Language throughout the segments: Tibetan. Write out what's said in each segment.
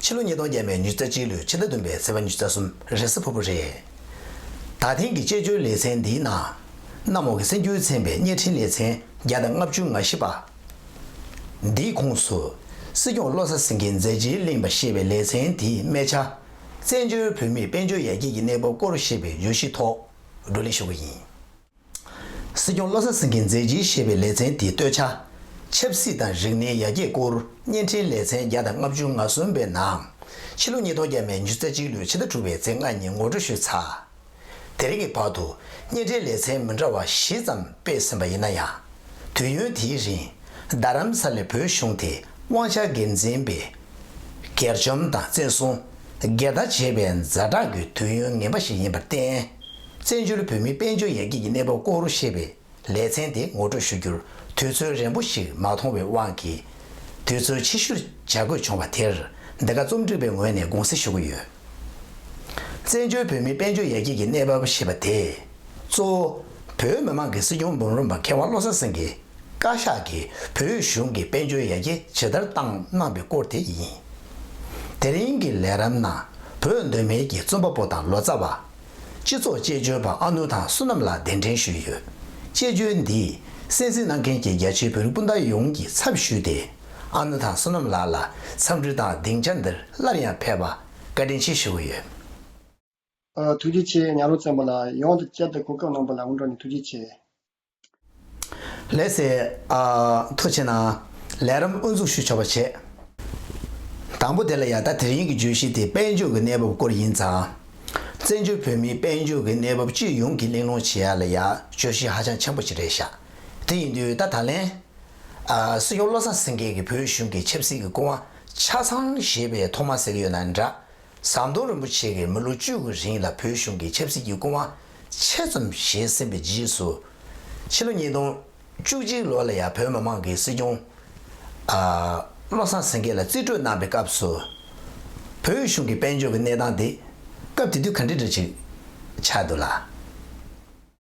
ཕྱི་ལོ་ཉིས་སྟོང་བརྒྱད་པའི་མྱུལ་རྩ་གཅིག་ལོའི་ཕྱི་ཟླ་བདུན་པའི་ཚེས་པ་མྱུལ་རྩ་གསུམ་རེས་གཟའ་ཕུར་བུ་རེད། ད་ཐེངས་ཀྱི་དཔྱད་བརྗོད་ལེ་ཚན་འདིའི་ནང། གནམ་འོག་གི་སེམས་འགྱུར་ཚན་པའི་བརྙན་འཕྲིན་ལེ་ཚན་བརྒྱ་དང་ལྔ་བཅུ་ང་བཞི་པ། འདིའི་ཁོངས་སུ། སྲིད་སྐྱོང་བློ་བཟང་སེང་གེའི་མཛད་རྗེས་གླེང་བ་ཞེས་པའི་ལེ་ཚན་དེའི་སྨད་ཆ། བཙན་བྱོལ་བོད་མིའི་དཔལ་འབྱོར་ཡར་རྒྱས་ཀྱི་གནས་བབ་སྐོར་ཞེས་པའི་བརྗོད་གཞི་ཐོག་བགྲོ་གླེང་ཞུ་རྒྱུ་ཡིན། སྲིད་སྐྱོང་བློ་བཟང་སེང་གེས་མཛད་རྗེས་བཞེས་པའི་ལེ་ཚན་དེའི་སྟོད་ཆ། ཆབ་སྲིད་དང་རིག་གནས་ཡར་རྒྱས་སྐོར་བརྙན་འཕྲིན་ལེ་ཚན་བརྒྱ་དང་ལྔ་བཅུ་ང་གསུམ་པའི་ནང། ཕྱི་ལོ་ཉིས་སྟོང་བརྒྱད་མའི་ཉི་ཚེ་གཅིག་ལོའི་ཕྱི་ཟླ་དྲུག་པའི་ཚེས་ལྔ་ཉིན་ངོ་སྤྲོད་ཞུས་ཚར། དེ་རིང་གི་བར་དུ་བརྙན་འཕྲིན་ལེ་ཚན་མི་འདྲ་བ་བཞི་ཙམ་སྤེལ་ཟིན་པ་ཡིན་ན་ཡང། དུས་ཡུན་དེའི་རིང། རྡ་རམ་ས་ལའི་བོད་གཞུང་དེ་དབང་ཆ་སྒེར་འཛིན་པས། སྒེར་བཅོམ་དང་བཙན་བཟུང། སྒེར་བདག་བྱས་པའི་མཛའ་གྲགས་ཀྱི་དུས་ཡུན་ངན་པ་ཞིག་ཡིན་པར་བརྟེན། བཙན་བྱོལ་བོད་མིའི་དཔལ་འབྱོར་ཡར་རྒྱས་ཀྱི་གནས་བབ་སྐོར་བཤད་པའི་ལེ་ཚན་དེ་ངོ་སྤྲོད་ཞུ་རྒྱུར་དུས་ཚོད་རན་པོ་ཞིག་མ་མཐོང་བའི་དབང་གིས། དུས་ཚོད་ཕྱི་བཤུར་བྱ་དགོས་བྱུང་བ་དེར་འདི་ག་རྩོམ་སྒྲིག་པའི་ངོས་ནས་དགོངས་སེལ་ཞུ་གི་ཡོད། བཙན་བྱོལ་བོད་མིའི་དཔལ་འབྱོར་ཡར་རྒྱས་ཀྱི་གནས་བབ་ཞེས་པ་དེ་གཙོ་བོ་བོད་མི་མང་གི་སྲིད་སྐྱོང་འབུམ་རམས་པ་མཁས་དབང་བློ་བཟང་སེང་གེ་བཀའ་ཤག་གིས་བོད་གཞུང་གི་དཔལ་འབྱོར་ཡར་རྒྱས་ཇི་ལྟར་བཏང་གནང་པའི་སྐོར་དེ་ཡིན། དེ་རིང་གི་ལས་རམས་ནང་བོད་གདོད་མའི་གྱི་རྩོམ་པ་པོ་དང་ལོ་ཙཱ་བ། སྤྱི་ཚོགས་དཔྱད་བརྗོད་པ་ཨ་ནུ་དང་བསོད་ནམས་ལགས་གདན་འདྲེན་ཞུས་ཡོད། དཔྱད་བརྗོད་འདིས་གསན་གཟིགས་གནང་མཁན་གྱི་རྒྱ་ཆེའི་བོད་རིགས་སྤུན་ཟླ་ཡོངས་ཀྱི་ཚབ་ཞུས་ཏེ། ཨ་ནུ་དང་བསོད་ནམས་ལགས་ལ་འཚམས་འདྲི་དང་སྡིངས་ཆ་འདིར་སླར་ཡང་ཕེབས་པ་བཀའ་དྲིན་ཆེ་ཞུ་གི་ཡོད། ཐུགས་རྗེ་ཆེ་ཉག་རོང་བཙན་པོ་ལགས་ཡོངས་དང་བཅས་པའི་གོ་སྐབས་གནང་པ་ལ་སྔོན་འགྲོ་ནས་ཐུགས་རྗེ་ཆེ། ལས་ཟས་མཐོ་ཆེ་ན། ལས་རམ་དབུ་འཛུགས་ཞུ་ཆོག་པ་བྱེད། དང་པོ་དེ་ལ་ཡང་ད་དེར་ཡིན་གྱི་བརྗོད་གཞི་དེ་དཔལ་འབྱོར་གྱི་གནས་བབ་སྐོར་ཡིན་ཙང། བཙན་བྱོལ་བོད་མིའི་དཔལ་འབྱོར་གྱི་གནས་བབ་སྤྱི་ཡོངས་ཀྱི་གླེང་སློང་བྱེད་ཡ་ལ་ཡང་བརྗོད་གཞི་ཧ་ཅང་ཆེན་པོ་ཞིག་རེད་ཤག་དེ་ཡིན་དུས་ད་ད་ལན། སྲིད་སྐྱོང་བློ་བཟང་སེང་གེ་གིས་བོད་གཞུང་གི་ཆབ་སྲིད་ཀྱི་སྐུ་དབང་ཆ་ཚང་བཞེས་པའི་ཐོག་མ་ཟེར་གྱི་ཡོད་ན་འདྲ། ཟམ་གདོང་རིན་པོ་ཆེ་གིས་མི་ལོ་བཅུ་དགུའི་རིང་ལ་བོད་གཞུང་གི་ཆབ་སྲིད་ཀྱི་སྐུ་དབང་ཆེ་ཙམ་བཞེས་ཟིན་པའི་རྗེས་སུ། ཕྱི་ལོ་ཉིས་སྟོང་བཅུ་གཅིག་ལོ་ལ་ཡང་བོད་མི་མང་གིས་སྲིད་སྐྱོང། བློ་བཟང་སེང་གེ་ལ་རྩིས་སྤྲོད་གནང་པའི་སྐབས་སུ། བོད་གཞུང་གི་དཔལ་འབྱོར་གྱི་གནས་སྟངས་དེ་སྐབས་དེ་དུས་ག་འདྲ་འདྲ་ཅིག་ཆགས་འདུག་ལ།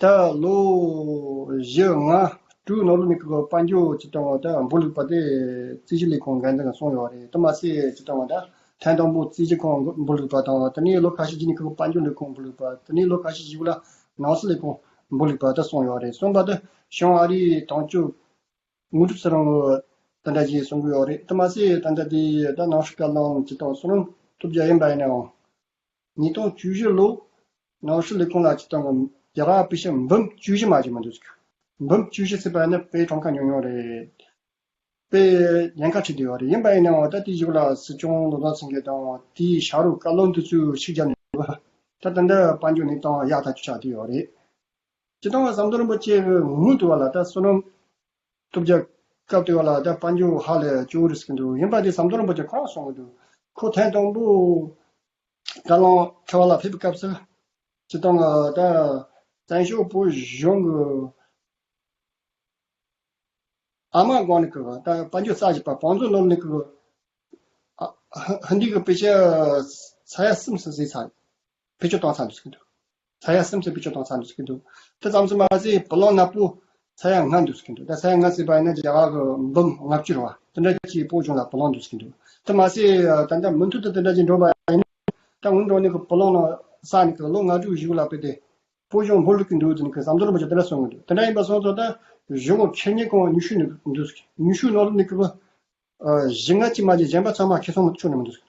ད་ལོ་བཞི་ལྔ་དྲུག་ནང་ལོ་ནས་ཁུལ་དཔལ་འབྱོར་སྤྱི་བཏང་བ་དང་འབུར་ལུག་པ་དེ་རྩིས་གཞི་ལས་ཁུངས་འགན་དང་གསུངས་ཡོད་རེད་དེ་མ་ཟད་སྤྱི་བཏང་བ་དང་ཐེངས་དང་པོ་རྩིས་གཞི་ཁང་འབུར་ལུག་པ་དང་དེ་ནས་ལོ་ཁ་ཤས་རྗེས་ནས་ཁུལ་དཔལ་འབྱོར་ལས་ཁུངས་འབུར་ལུག་པ་དེ་ནས་ལོ་ཁ་ཤས་བཞི་བོ་ལ་ནང་སྲིད་ལས་ཁུངས་འབུར་ལུག་པ་དང་གསུངས་ཡོད་རེད་གསུངས་པ་དང་ཞང་ཨ་རིའི་དོན་གཅོད་དངོས་གྲུབ་ཚེ་རིང་དེ་འདྲ་ཞིག་གསུངས་ཀྱི་ཡོད་རེད་དེ་མ་ཟད་དེ་འདྲ་དེ་ད་ནང་ཧྲི་ཀ་ལམ་སྤྱི་བཏང་གསུང་རུང་ཐུབ་རྒྱ་ཡིན་པ་ཡིན་ནའང་ཉིས་སྟོང་བཅུ་བཞི་ལོའི་ནང་ཧྲི་ལི་ཀོང་ལ་སྤྱི་བཏང་གི་རྒྱ་གར་པི་ཤ་འབུམ་བཅུ་བཞི་མ་ཅིག་མ་འདུག་འབུམ་བཅུ་བཞི་ཟེར་པ་ནི་པའི་གྲངས་ཀ་ཉུང་ཉུང་རེད། པའི་ཉེན་ཁ་འཕྲད་འདོད་ཡོད་རེད་ཡིན་པ་ཡིན་ནའང་ད་དེའི་གཞིས་ལ་སྲིད་སྐྱོང་ལོ་ཙཱ་ཚིང་གིས་དང་དེའི་ཤ་རུ་ཀ་ལོ་འདི་ཚོས་ཤིག་བརྒྱབ་ནས་འདུག་ད་ད་འདི་དཔལ་འབྱོར་ནི་ཏང་ཡག་ཐག་ཆོད་ཆགས་བསྡད་ཡོད་རེད། སྤྱི་བཏང་བ་ཟམ་གདོང་རིན་པོ་ཆེའི་ངོས་ནས་བསྡུ་བ་ལ་ད་བསོད་ནམས་གཏུབ་རྒྱག་སྐབས་དེ་བ་ལ་དཔའ་མཇུག་ཧ་ལས་ཅུང་རིང་གི་འདུག་ཡིན་པ་དེ་ཟམ་གདོང་རིན་པོ་ཆེ་ཁོ་རང་སོང་གི་འདུག་ཁོ་ཐེངས་དང་པོ་དགའ་ལངས་ཁྲི་བ་ལ་ཕེབས་པའི་སྐབས་སུ། སྤྱི་བཏང་ལ་དཔའ་བཙན་ཤོག་བུ་གཞུང་གི་ཨ་མ་སྒང་ནས་ཀྱི་དཔའ་མཇུག་རྩ་བཞི་པ་བང་མཛོད་སློབ་གླིང་གི་ཧིན་དི་གི་དཔེ་ཆའི་ས་ཡ་གསུམ་སུ་གཟིགས་ཚར། བེད་སྤྱོད་གཏོང་ཚར་འདུག་ཟེར་གི་འདུག་ས་ཡ་སེམས་ཅན་བེད་སྤྱོད་གཏོང་ཚར་འདུག་ཟེར་གི་འདུག་དེ་ཙམ་ཟེར་མ་ཟད་བུ་ལོང་ནག་པོ་ས་ཡ་ལྔ་འདུག་ཟེར་གི་འདུག་ད་ས་ཡ་ལྔ་ཟེར་བ་ཡིན་ན་རྒྱ་གར་གྱི་འབུམ་ལྔ་བཅུར་བ་དེ་འདྲ་གྱི་སྤོ་བྱུང་ལ་བུ་ལོང་འདུག་ཟེར་གི་འདུག་དེ་མ་ཟད་ད་ཆ་མུ་མཐུད་དུ་དེ་འདྲ་ཅིག་འགྲོ་བ་ཡིན་ན་ད་སྔོན་འགྲོ་ནས་བུ་ལོང་ནང་ས་ནས་ལོ་ལྔ་དྲུག་བཞི་བ་ལ་བུད་དེ་སྤོ་བྱུང་འབུ་ལུག་གི་འདུག་ཟེར་ནས་ཟམ་གདོང་རིན་པོ་ཆེས་དེ་འདྲ་གསུངས་གི་འདུག་དེ་འདྲ་ཡིན་པ་སོང་ཚོ་ད་གཞུང་གི་ཁེར་གཉེར་ཁང་ཉུ་ཤུ་ནས་འདུག་ཟེར་གི་ཉུ་ཤུ་ནང་ལ་ནི་གི་བུ་བཞི་ལྔ་གཅིག་མ་གཅིག་གཞན་པ་ཚང་མ་ཁེ་ཚོང་ཆུང་ནས་མི་འདུག་ཟེར་གི་འདུག།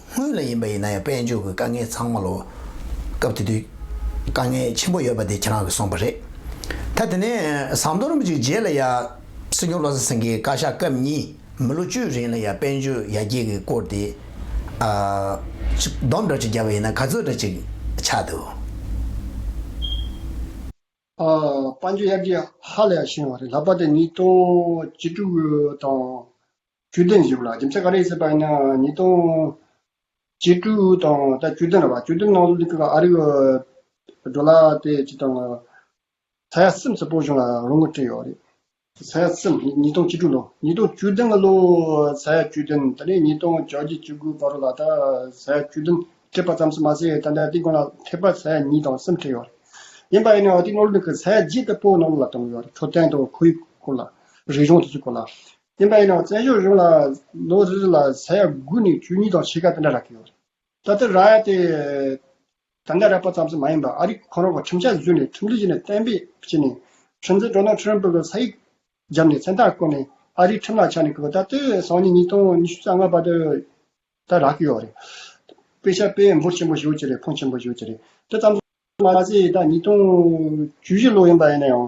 སྔོན་ལ་ཡིན་པ་ཡིན་ན་ཡང་དཔལ་འབྱོར་གྱི་དཀའ་ངལ་ཚང་མ་ལོ། སྐབས་དེ་དུས་དཀའ་ངལ་ཆེན་པོ་ཡོད་པ་དེ་ཁྱེད་རང་གིས་གསུངས་པ་རེད། ད་དེ་ནས་ཟམ་གདོང་རིན་པོ་ཆེའི་རྗེས་ལ་ཡང་སྲིད་སྐྱོང་བློ་བཟང་སེང་གེའི་བཀའ་ཤག་སྐབས་གཉིས་མི་ལོ་བཅུའི་རིང་ལ་ཡང་དཔལ་འབྱོར་ཡར་རྒྱས་ཀྱི་སྐོར་དེ། སྡོམ་འདྲ་གཅིག་བརྒྱབ་པ་ཡིན་ན་ག་ཚོད་འདྲ་གཅིག་ཆགས་འདུག། དཔའ་འཇུག་དབྱར་གྱི་ཧ་ལས་བཞེངས་བ་རེད་ལྷག་པ་དེ་ཉིས་སྟོང་བཅུ་དྲུག་དང་བཅུ་བདུན་བཞི་བ་ལ་རྒྱུ་མཚན་ག་རེ་ཡོད་སྲིད་པ་ཡིན་ན་ཉིས་སྟོང་བཅུ་དྲུག་དང་ད་བཅུ་བདུན་ལ་བ་བཅུ་བདུན་ནང་ལུགས་ཀྱི་ཨ་རིག་འགྲོ་ལ་དེ་ཅི་དང་ཚ་ཡ་སེམས་སུ་སྤོ་བྱུང་ལ་རུང་ངུ་བྲིས་ཡོད་རེད། ཚ་ཡ་སེམས་ཉིས་སྟོང་བཅུ་དྲུག་ལོ་ཉིས་སྟོང་བཅུ་བདུན་ལོ་ཚ་ཡ་བཅུ་བདུན་ད་ལན་ཉིས་སྟོང་བཅོ་བརྒྱད་བཅུ་དགུའི་བར་རོ་ལ་ད་ཚ་ཡ་བཅུ་བདུན་ཁྲིད་པ་ཙམ་ཟེར་མ་ཟད་ད་ལྟའི་ཏིང་གོང་ལ་ཐེག་པ་ཚ་ཡ་གཉིས་དང་གསུམ་ཁྲིད་ཡོད། ཡིན་པ་ཡིན་ནའང་ཏིང་ནོར་ལུག་གི་ཚ་ཡ་བརྒྱད་ལྟ་བུ་ནོར་ལུག་ལ་བཏང་ཡོད་འཕྲོད་བསྟེན་དང་ཁོར་ཡུག་སྐོར་ལ། རིག་གཞུང་དེ་ཚོའི་སྐོར་ལ། ཡིན་པ་ཡིན་ནའང་བཙན་བྱོལ་གཞུང་ལ་ལོ་རེ་རེ་ལ་ཚ་ཡ་དགུ་ནས་བཅུ་གཉིས་དང་ཕྱེད་ཀ་དེ་འདྲ་རག་གི་ཡོད། ད་ལྟ་ར་ཡ་དེ་ད་ལྟ་ར་པ་ཙམ་ཟེར་མ་ཡིན་པར་ཨ་རི་ཁོ་རང་གི་ཁྲིམས་འཆར་བཟོས་ནས་ཁྲིམས་སྒྲིག་བྱས་ནས་གཏན་འབེབས་བྱས་ནས་ཁྲིམས་འཛིན Donald Trump གི་ས་ཡིག་བརྒྱབ་ནས་མཚན་རྟགས་བཀོད་ནས་ཨ་རིའི་ཁྲིམས་ལ་ཆགས་ནས་ད་ལྟ་སང་ཉིན་ཉིས་སྟོང་ཉི་ཤུ་རྩ་ལྔ་པ་ད་རག་གི་ཡོད་རེད། དཔེ་ཆ་དཔེ་འབོར་ཆེན་པོ་ཞིག་ཡོད་ཀྱི་རེད་ཕོན་ཆེན་པོ་ཞིག་ཡོད་ཀྱི་རེད་དེ་ཙམ་ཟེར་མ་ཟད་ད་ཉིས་སྟོང་བཅུ་བཞི་ལོ་ཡིན་པ་ཡིན་ན་ཡང་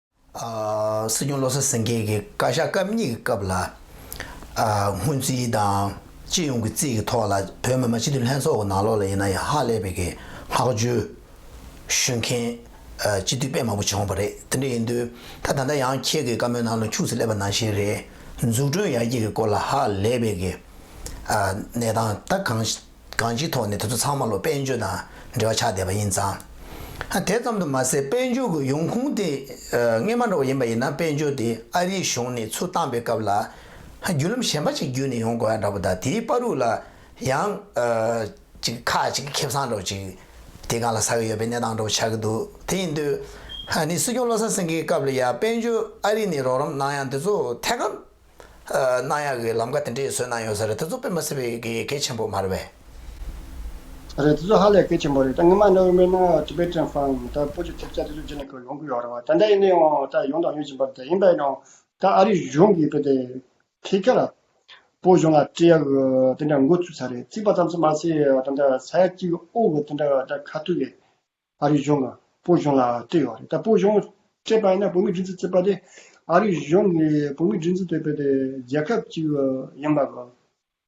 སྲིད་སྐྱོང་བློ་བཟང་སེང་གེ་གིས་བཀའ་ཤག་སྐབས་གཉིས་ཀྱི་སྐབས་ལ། སྔོན་རྩིས་དང་སྤྱི་ཡོངས་ཀྱི་རྩིས་ཀྱི་ཐོག་ལ་བོད་མི་མང་སྤྱི་འཐུས་ལྷན་ཚོགས་ཀྱི་ནང་ལོགས་ལ་ཡིན་ན་ཡང་ཧ་ལས་པའི་གི་ལྷག་བཅུ་ཞུ་མཁན་སྤྱི་འཐུས་དཔེ་མང་པོ་བྱུང་བ་རེད། དེ་འདྲ་ཡིན་དུས་ད་ད་ལྟ་ཡང་ཁྱེད་ཀྱི་བཀའ་མོལ་ནང་ལ་འཁྱུགས་སུ་སླེབས་པ་ནང་བཞིན་རེད་འཛུགས་སྐྲུན་ཡར་རྒྱས་ཀྱི་སྐོར་ལ་ཧ་ལས་པའི་གི་གནས་སྟངས་ད་གང། གང་ཅིའི་ཐོག་ནས་དེ་ཚོ་ཚང་མ་ལོ་པཎ་ཆོས་དང་འབྲེལ་བ་ཆགས་བསྡད་པ་ཡིན་ཙང། དེ་ཙམ་དུ་མ་ཟད་དཔལ་འབྱོར་གྱི་ཡོང་ཁུངས་དེ་རྔན་མ་འདྲ་བ་ཡིན་པ་ཡིན་ན་དཔལ་འབྱོར་དེ་ཨ་རིའི་གཞུང་ནས་ཚུར་བཏང་པའི་སྐབས་ལ་བརྒྱུད་ལམ་གཞན་པ་ཅིག་བརྒྱུད་ནས་ཡོང་དགོས་ཡ་འདྲ་པོ་དང་དེའི་དཔའ་རུ་ལ་ཡང་ཅིག་ཁ་ཅིག་ཁེབས་སང་འདྲ་བོ་ཅིག་དེ་གང་ལ་ཟ་གི་ཡོད་པའི་གནས་སྟངས་འདྲ་བོ་ཆགས་ཀྱི་འདུག་དེ་ཡིན་དུས་ནས་སྲིད་སྐྱོང་བློ་བཟང་སེང་གེའི་སྐབས་ལ་ཡང་དཔལ་འབྱོར་ཨ་རི་ནས་རོགས་རམ་གནང་ཡང་དེ་ཚོ་ཐད་ཀར། གནང་ཡག་གི་ལམ་ཁ་དེ་འདྲའི་བཟོས་གནང་ཡོད་ཟེར་རེད་ད་གཟོད་པད་མ་སེར་བའི་གི་གལ་ཆེན་པོ་མ་རེད་བས། རེད་ད་གཟོད་ཧ་ལས་གལ་ཆེན་པོ་རེད་ད་ངེད་མ་གནའ་བོའི་མི་སྣ Tibetan Fang ད་སྤོ་ཆུ་ཐེབས་རྩ་དེ་ཚོ་རྗེས་ནས་ཀྱང་ཡོང་གི་ཡོད་རེད་བ་ད་ལྟ་ཡིན་ནའི་ཡང་ད་ཡོང་དང་ཡོང་བཞིན་པ་ཡིན་པས་ཡང་ད་ཨ་རི་གཞུང་གིས་བོད་དེ་ཐེ་ཁེ་ལ་སྤོ་གཞུང་ལ་སྤྲད་ཡག་གི་དེ་འདྲ་འགོ་བཙུགས་ཚར་རེད་བཙུགས་པ་ཙམ་ཚོ་མ་ཟད་ད་ད་ས་ཡ་གཅིག་ཨོ་གི་དེ་འདྲ་ད་ཁ་ཐུག་གི་ཨ་རིའི་གཞུང་གིས་བོད་གཞུང་ལ་སྤྲད་ཡོད་རེད་ད་བོད་གཞུང་སྤྲད་པ་ཡིན་ན་བོད་མིའི་སྒྲིག་འཛུགས་བཙུགས་པ་དེ་ཨ་རིའི་གཞུང་གིས་བོད་མིའི་སྒྲིག་འཛུགས་བཙུགས་པ་དེ་རྒྱལ་ཁབ་ཅིག་ཡིན་པ་གོ་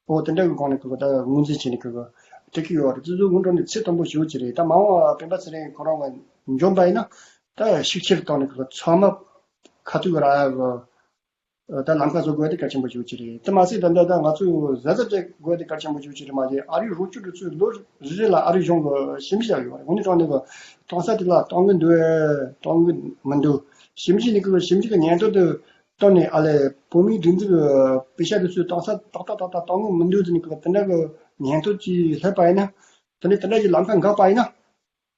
ཨོ་དེ་འདྲ་གི་སྒང་ནས་ཁོས་ད་ངོས་འཛིན་བྱས་ནས་ཁོས་སྤྲད་ཀྱི་ཡོད་རེད་དེ་ཚོའི་སྔོན་འགྲོ་ནས་ཚེ་དང་པོ་ཞུ་རྒྱུ་རེད་ད་མ་འོངས་བ་སྤེན་པ་ཚེ་རིང་ཁོ་རང་ངོས་འབྱོན་པ་ཡིན་ན་ད་ཤུགས་ཆེར་བཏང་ནས་ཁོས་ཚང་མ་ཁ་ཐུག་ར་གི་ད་ནམ་མཁའ་བཟོ་དགོས་ཏེ་གལ་ཆེན་པོ་ཞིག་རེད་དེ་མ་ཟད་ད་ལྟ་ད་ང་ཚོས་གཟན་རྩྭ་སྤྲད་དགོས་ཏེ་གལ་ཆེན་པོ་ཞིག་རེད་མ་གཞི་ཨ་རིའི་རུ་ཆུ་འདི་ཚོས་ལོ་རེ་རེ་ལ་ཨ་རིའི་གཞུང་གི་ཞིབ་འཇིགས་བྱ་དགོས་རེད་འོན་ཀྱང་གྲོང་གསར་དེ་ལ་གཏོང་གི་འདུག་གཏོང་གི་མི་འདུག་ཞིབ་འཇིགས་ནི་ཁོས་ཞིབ་འཇིགས་ཀྱི་ཉན་ཐོས་དེ་བཏོན་ནས་ཨ་ལས་བོད་མིའི་སྒྲིག་འཛུགས་ཀྱི་སྤེལ་ཤ་དེ་ཚོས་གཏོང་ས་ཏག་ཏག་ཏག་ཏག་གཏོང་གི་མི་འདུག་དེ་ནི་ཁོས་དེ་འདྲ་གི་ཉན་ཐོས་ཀྱིས་སླེབས་པ་ཡིན་ན་དེ་ནི་དེ་འདྲ་ཞིག་ལམ་ཁ་འགག་པ་ཡིན་ན།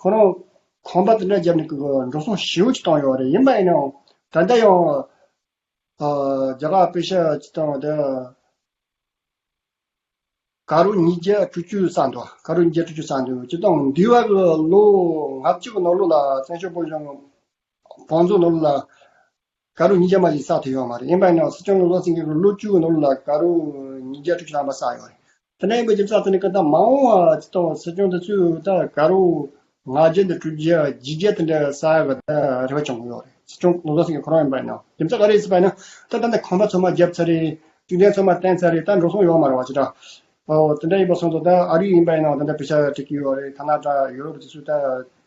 ཁོང་རང་ཁང་པ་དེ་འདྲ་བརྒྱབ་ནས་འགྲོ་སོང་ཞེའུ་ཅིག་བཏང་ཡོད་རེད་ཡིན་པ་ཡིན་ནའང་ད་ལྟ་ཡང་རྒྱ་གར་དཔེ་ཤེལ་ཅིག་བཏང་བ་དེ་ག་རུ་ཉིས་བརྒྱ་དྲུག་ཅུ་ས་འདུག་ག་རུ་ཉིས་བརྒྱ་དྲུག་ཅུ་ས་འདུག་སྤྱིར་བཏང་འདི་བར་གྱི་ལོ་ང་གཅིག་གི་ནང་ལོ་ལ་བཙན་བྱོལ་བོད་གཞུང་དང་བོང་རྫོང་ནང་ལོ་ལ་དགའ་རུ་ཉིས་བརྒྱ་མ་ཞིག་བསགས་ཐུབ་ཡོད་མ་རེད་དབྱིན་བན་ནང་སྲིད་སྐྱོང་གི་བློ་སེང་གི་ལོ་བཅུ་གི་ནང་ལ་དགའ་རུ་ཉིས་བརྒྱ་དྲུག་ཅུ་ལྷག་མ་བསགས་ཡོད་རེད་དེ་ནས་བོད་ཀྱི་རྩ་དོན་ནི་ཀུན་ད་མ་འོང་བ་ཅི་གཏོང་བ་སྲིད་སྐྱོང་དེ་ཚོས་ད་དགའ་རུ་ང་བརྒྱད་དང་དྲུག་བརྒྱ་བརྒྱད་བརྒྱ་དེ་འདྲ་བསགས་ཡོད་པ་ད་རེ་བ་བྱུང་གི་ཡོད་རེད་སྲིད་སྐྱོང་གི་ལོ་སེང་གི་ཁོ་རང་དབྱིན་བན་ནང་རྒྱུ་མཚན་ག་རེ་ཡིན་པ་ན་ད་ད་ནས་ཁང་པ་ཚོད་མ་བརྒྱབ་ཚར་རེད་ཤུགས་ལྡན་ཚོད་མ་བསྟན་ཚར་རེད་ད་འགྲོ་སོང་ཡོད་མ་རེད་བ་ཅི་དྲག་དེ་འདྲ་ཡིན་པ་སོང་དོ་ད་ཨ་རིའི་དབྱིན་བན་ནང་དེ་འདྲ་བོད་ཤ་བྲེག་གི་ཡོད་རེད་ཐ་ན་ད་ཡུ་རོབ་དེ་ཚོས་ད་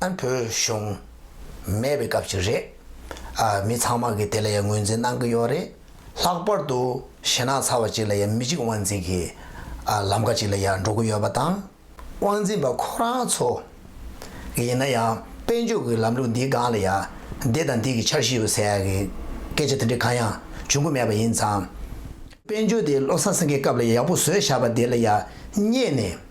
ཨ་བོད་གཞུང། མེད་པའི་སྐབས་ཤིག་རེད། ཨ་མི་ཚང་མ་གིས་དེ་ལ་ཡང་ངོས་འཛིན་གནང་གི་ཡོད་རེད། ལྷག་པར་དུ་ཞེ་ནག་ཚ་བ་ཅིག་ལ་ཡང་མི་གཅིག་དབང་འཛིན་གྱི་ལམ་ཁ་ཅིག་ལ་ཡང་འགྲོ་གི་ཡོད་པ་དང། དབང་འཛིན་པ་ཁོ་རང་ཚོ། ཡིན་ན་ཡང་དཔལ་འབྱོར་གྱི་ལམ་ལུགས་འདིའི་སྒང་ལ་ཡང་འདི་དང་འདི་གི་འཆར་གཞི་ཡོད་ཟེར་ཡག་གི་སྐད་ཆ་དེ་འདྲའི་གང་ཡང་འབྱུང་གི་མེད་པ་ཡིན་ཙང། དཔལ་འབྱོར་དེ་བློ་བཟང་སེང་གེའི་སྐབས་ལ་ཡག་པོ་བཟོས་བཞག་པ་དེ་ལ་ཡང་བསྙད་ནས།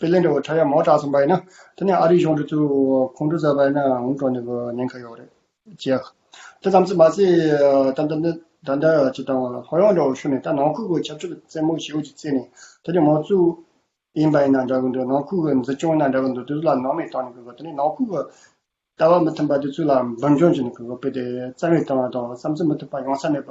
པེ་ལེ་འདྲ་བོ་ཁྲ་ཡག་མོ་གྲགས་སོང་པ་ཡིན་ན་དེ་ནས་ཨ་རིའི་གཞུང་འབྲེལ་དུ་ཁོང་ཁྲོ་བཟོས་པ་ཡིན་ན་ངུ་དྲོ་ནས་གི་ཉེན་ཁ་ཡོག་རེད་ཅེ། དེ་ཙམ་ཚོད་མ་ཟད་ད་ལྟ་ད་ལྟ་ཇི་ལྟ་བ་ལ་ལྷོད་ཡོག་འདྲ་བོ་ཤོར་ནས་ད་ནང་ཁུལ་གི་ཆབ་སྲིད་རྩེད་མོ་ཞེ་བོ་ཅིག་རྩེད་ནས་དེ་ནས་མོ་གཙོས་ཡིན་པ་ཡིན་ན་འདྲ་གི་འདུག་ནང་ཁུལ་གི་འཛིན་སྐྱོང་ཡིན་ན་འདྲ་གི་འདུག་དེ་ཚོ་ལ་ནང་མིས་བཏང་ནས་གི་དེ་ནས་ནང་ཁུལ་གི་ལྟ་བ་མི་མཐུན་པ་དེ་ཚོའི་ལ་འབུར་འཇོམས་བྱས་ནས་གི་དཔེ་དེ་རྩ་བའི་བཏང་བ་དང་བསམ་ཚུལ་མི་མཐུན་པ་ཡོང་ས་མེད་པ་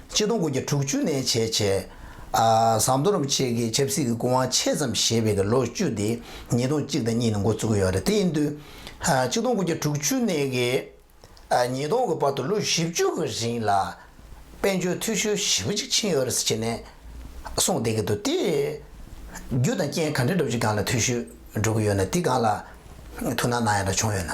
སྤྱི་སྟོང་དགུ་བརྒྱ་དྲུག་ཅུ་ནས་བྱེད་ཆེ། ཟངས་མདོ་རིན་པོ་ཆེ་གིས་ཆབ་སྲིད་ཀྱི་སྐུ་དབང་ཆེ་ཙམ་བཞེས་པའི་ལོ་བཅུ་དེ་ཉིས་སྟོང་གཅིག་དང་གཉིས་ནས་འགོ་བཙུགས་ཡོད་རེད། དེ་ཡིན་དུས། སྤྱི་སྟོང་དགུ་བརྒྱ་དྲུག་ཅུ་ནས་ཉིས་སྟོང་གི་བར་དུ་ལོ་བཞི་བཅུ་གི་རིང་ལ། དཔལ་འབྱོར་འཐུས་ཤོར་ཞེ་པོ་ཅིག་ཕྱིན་ཡོད་རེད་ཟེར་ནས་གསུངས་བསྡད་ཀྱི་འདུག་དེ། རྒྱུ་དང་རྐྱེན་ག་འདྲས་འགྲོ་བྱེད་སྒང་ལ་འཐུས་ཤོར་འགྲོ་གི་ཡོད་ན་དེ་སྒང་ལ་ཐུགས་སྣང་གནང་ཡོད་ན་བྱུང་ཡོད་ན།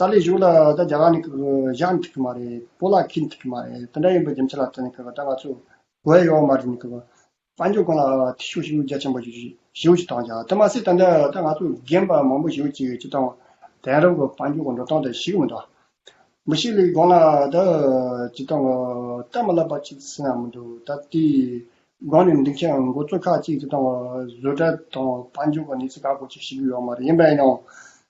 ཏཱ་ལའི་བཞུགས་ལ་ད་རྒྱ་གར་ནས་བཞག་ནས་ཐུག་གི་མ་རེད་སྤོ་ལག་ཁྱེར་ནས་ཐུག་གི་མ་རེད་དེ་འདྲ་ཡིན་པའི་རྒྱུ་མཚན་ལ་ལྟོས་ནས་ད་ང་ཚོས་བོད་ཡོད་མ་རེད་ནས་དཔལ་འབྱོར་ཀུན་ལ་ཐེ་ཞུགས་ཤུགས་རྒྱ་ཆེན་པོ་ཞུ་ཞིག་གཏང་བྱ་དེ་མ་ཟད་ད་ལྟ་ད་ང་ཚོས་རྒན་པ་མང་པོ་ཞུ་ཅིག་ཅིག་གཏང་དེང་རབས་ཀྱི་དཔལ་འབྱོར་གྱི་འགྲོ་སྟངས་དེ་ཞིག་མི་འདུག་མི་ཞིག་ལས་དགོངས་ལ་ད་ཅིག་གཏང་གི་སྟབས་མ་ལབ་པ་ཅིག་ཟེར་ཡང་མི་འདུག་ད་དེ་དགོངས་ནས་འདི་མཁན་མགོ་གཙོ་ཁག་ཅིག་ཅིག་གཏང་བ་བཟོ་གྲྭ་དང་དཔལ་འབྱོར་གྱི་གནས་ཚུལ་ག་གོ་ཅིག་ཤེས་ཀྱི་ཡོད་མ་རེད་ཡིན་པ་ཡིན་ཡང་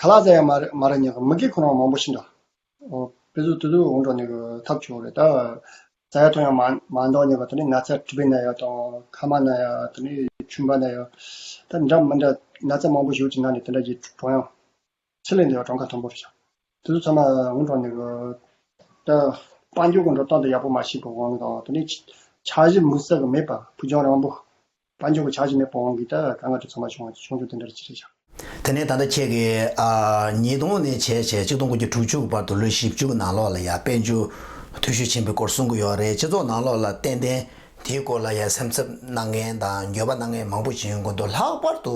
ག་ལ་ཟེར་ཡང་མ་རེད་མ་རེད་ཉེས་གི་མི་དགེ་ཁོ་རང་མང་པོ་ཤི་འདྲ། བོད་སུ་དུས་དུས་འོང་འགྲོ་ནས་གི་ཐབས་བྱུང་རེད་ད། ས་ཡ་ཐོ་ཡང་མ་འདོག་ཉེས་པ་དེ་ནས་ན་ཚ་དྲི་བའི་ན་ཡ་དང་ཁ་མ་ན་ཡ་དེ་ནས་ཆུན་པ་ན་ཡ། ད་འདྲ་མི་འདྲ་ན་ཚ་མང་པོ་ཞུགས་ཀྱི་ན་ནས་དེ་འདྲ་གྱི་གྲོང་ཡང། ཚེ་ལས་འདས་པ་གྲོང་ཁ་མཐོན་པོ་རེད་བྱ། དུས་དུས་ཚང་མ་འོང་འགྲོ་ནས་གི། ད། དཔང་རྒྱུག་གི་འགྲོ་སྟངས་དེ་ཡག་པོ་མ་ཤེས་པའི་དབང་གིས་དང་དེ་ནས། ཕྱག་བཞི་མུ་སེར་གི་མེད་པ་བུ་ཆུང་རང་བུ། པ་འབྱུང་བའི་ཆ་གཞི་མེད་པ་དབང་གིས་ཀྱང་གང་ང་ཆོས་ཚང་མ་བྱུང་བ་བྱུང་ཆོག་དེ་འདྲར་ཅི་བྱེད་བྱ། དེ་ནས་ད་ལྟ་ཁྱེད་ཀྱིས་ཉིས་སྟོང་ནས་བྱས་བྱས་གཅིག་སྟོང་དགུ་བརྒྱ་དྲུག་ཅུ་བར་དུ་ལོ་བཞི་བཅུ་ནང་ལོགས་ལ་ཡང་དཔལ་འབྱོར་འཐུས་ཤོས་ཆེན་པོའི་སྐོར་གསུང་གི་ཡོད་རེད་སྤྱི་ཚོགས་ནང་ལོགས་ལ་ཏན་ཏན་དེའི་སྐོར་ལ་ཡང་སེམས་འཚབ་གནང་མཁན་དང་འགྱོད་པ་གནང་མཁན་མང་པོ་ཞིག་ཡོང་གི་འདུག་ལྷག་པར་དུ་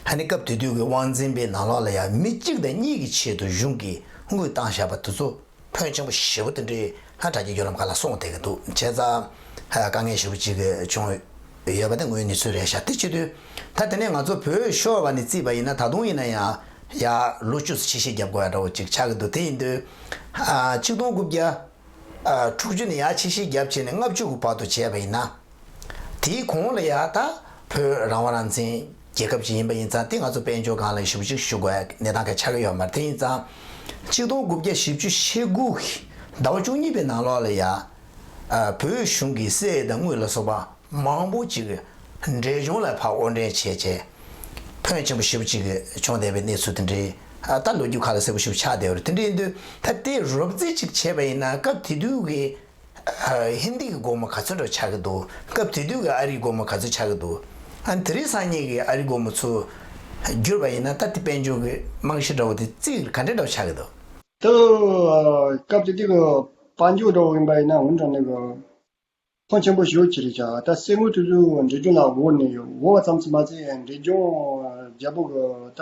ཧ་ནི་སྐབས་དེ་དུས་ཀྱི་དབང་འཛིན་པའི་ནང་ལོགས་ལ་ཡང་མི་གཅིག་དང་གཉིས་ཀྱི་ཆེད་དུ་གཞུང་གིས་དངུལ་བཏང་བཞག་པ་དེ་ཚོ། ཕོན་ཆེན་པོ་ཞེ་བོ་དེ་འདྲའི་ལྷ་གྲགས་ཀྱི་བརྒྱུད་ལམ་ག་ལ་སོང་བསྡད་ཀྱི་འདུག་བྱས་ཙང། དཀའ་ངལ་ཞེ་བོ་གཅིག་བྱུང་ཡོད་པ་དེ་དངོས་ནི་ཚུལ་རེད་ཞག་སྟེ་སྤྱི་དུས་ད་དེ་ནས་ང་ཚོ་བོད་ཤོར་བ་ནས་བརྩིས་པ་ཡིན་ན་ད་དུང་ཡིན་ན་ཡང་ཡ་ལོ་བཅུ་ཚོ་ཕྱི་ཤེས་རྒྱབ་དགོས་ཡ་འདྲ་བོ་གཅིག་ཆགས་ཀྱི་འདུག་དེ་ཡིན་དུས། ཆིག་སྟོང་དགུ་བརྒྱ། དྲུག་ཅུ་ནས་ཡ་ཕྱི་ཤེས་རྒྱབ་བྱས་ནས་ལྔ་བཅུ་དགུ་བར་དུ་བྱས་པ་ཡིན་ན། དེའི་གོང་ལ་ཡང་ད་བོད་རང་དབང་རང་བཙན་རྒྱལ་ཁབ་ཅིག་ཡིན་པ་ཡིན་ཙང་དེ་ང་ཚོ་དཔལ་འབྱོར་སྒང་ལ་ཞུགས་གཅིག་ཞུགས་དགོས་གནས་སྟངས་ག་ཆགས་ཀྱི་ཡོད་མ་རེད་དེ་ཡིན་ཙང་གཅིག་སྟོང་དགུ་བརྒྱ་བཞི་བཅུ་ཞེ་དགུ་ཟླ་བ་བཅུ་གཉིས་པའི་ནང་ལོགས་ལ་ཡང་བོད་གཞུང་གིས་སའི་དང་དངུལ་ལ་སོགས་པ་མང་པོ་ཅིག་འབྲས་ལྗོངས་ལ་ཕར་དབོར་འདྲེན་བྱས་རྗེས་ཕོན་ཆེན་པོ་ཞིག་བྱུང་བསྡད་པའི་གནས་ཚུལ་དེ་འདྲའི་ད་ལོ་རྒྱུས་ཁ་ལ་གསལ་པོ་ཞིག་ཆགས་བསྡད་པ་རེད་དེ་འདྲའི་འདུག་ད་དེ་རོབ་རྩིས་ཅིག་བྱས་པ་ཡིན་ན་སྐབས་དེ་དུས་ཀྱི་ཧིན་དི་གི་སྒོར་མོ་ག་ཚོད་འགྲོ་ཆགས་ཀྱི་འདུག་སྐབས་དེ་དུས་ཀྱི་ཨ་རིའི་སྒོར་མོ་ག་ཚོད་ཆགས་ཀྱི་འདུག་ཨ་དེ་རིང་སང་ཉིན་གྱི་ཨ་རིའི་སྒོར་མོ་ཚུར་བསྒྱུར་བ་ཡིན་ན་ད་དེ་དཔལ་འབྱོར་གྱི་རྨང་གཞི་འདྲ་བོ་དེ་རྩིས་ག་འདྲ་འདྲ་བོ་ཆགས་ཀྱི་འདུག། དུ། སྐབས་དེ་དུས་ཀྱི་དཔལ་འབྱོར་འདྲ་བོ་ཡིན་པ་ཡིན་ན་འོན་ཀྱང་ནས་ཀྱི། ཐང་ཆེན་པོ་ཞོ་ཅི་རིགས་ཆགས་ད་སེ་དངུལ་དུས་ཚོད་འབྲས་ལྗོངས་ལ་བོར་ནས་ཡོད་བོར་བ་ཙམ་ཚོད་མ་ཚད་འབྲས་ལྗོངས་རྒྱལ་པོ་གྱི་ད།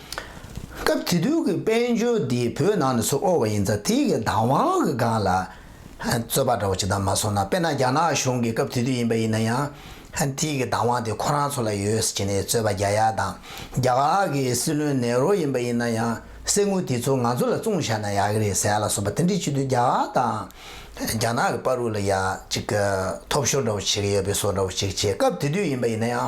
སྐབས་དེ་དུས་ཀྱི་དཔལ་འབྱོར་འདི་བོད་ནང་ནས་ཚུར་དབོར་བ་ཡིན་ཙང་དེ་ཡི་བདག་དབང་གི་སྒང་ལ་རྩོད་པ་འདྲ་བོ་བྱེད་དང་མ་སོང་ན་དཔེར་ན་རྒྱ་ནག་གཞུང་གི་སྐབས་དེ་དུས་ཡིན་པ་ཡིན་ན་ཡང་དེ་ཡི་བདག་དབང་དེ་ཁོ་རང་ཚོ་ལ་ཡོད་ཟེར་ནས་རྩོད་པ་རྒྱག་ཡ་དང་རྒྱ་གར་གྱི་སྲིད་བློན་ནེ་རོ་ཡིན་པ་ཡིན་ན་ཡང་གསེར་དངུལ་དེ་ཚོ་ང་ཚོ་ལ་བཙུང་བཞག་ན་ཡག་གི་རེད་ཟེར་ཡ་ལ་སོགས་པ་དེ་འདྲའི་བྱེད་དུས་རྒྱ་གར་དང་རྒྱ་ནག་གི་པར་རུ་ལ་ཡ་ཅིག་ཐོབ་ཤོར་འདྲ་བོ་བྱེད་ཀྱི་ཡོད་པའི་སོགས་འདྲ་བོ་ཅིག་བྱས་སྐབས་དེ་དུས་ཡིན་པ་ཡིན་ན་ཡང།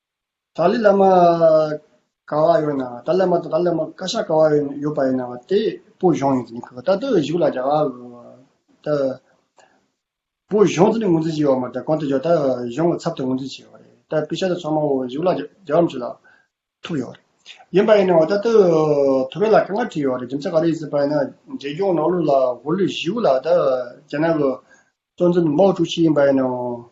ཏཱ་ལའི་བླ་མ་ཀ་བ་ཡོད་ན་ཏཱ་ལའི་བླ་མ་དང་ཏཱ་ལའི་བླ་མ་ཀ་ཤ་ཀ་བ་ཡོད་པ་ཡིན་ན་བ་དེ་པོ་གཞུང་ཡིན་ཟེར་ནས་ད་ལྟ་བཞུགས་ལ་རྒྱ་གར་དུ་ད་པོ་གཞུང་ཟེར་ནས་ངོས་འཛིན་བྱས་པ་མ་རེད་གང་དུ་བཞུགས་ད་གཞུང་གི་ཚབ་ཏུ་ངོས་འཛིན་བྱས་པ་རེད་ད་དཔེ་ཆ་དེ་ཚང་མ་བཞུགས་ལ་རྒྱ་གར་མཆོད་ལ་ཐུག་ཡོད་རེད་ཡིན་པ་ཡིན་ན་བ་ད་ལྟ་ཐུ་བྷེ་ལ་དཀའ་ངལ་འཕྲད་ཡོད་རེད་རྒྱུ་མཚན་ག་རེ་ཡིན་ཟེར་པ་ཡིན་ན་རྒྱལ་སྐྱོང་ནག་ལུ་ལ་གོ་ལུས་བཞུགས་ལ་ད་རྒྱ་ནག་གི་གཙོ་འཛིན་མའོ་ཀྲུའུ་ཞི་ཡིན་པ་ཡིན་ནའང།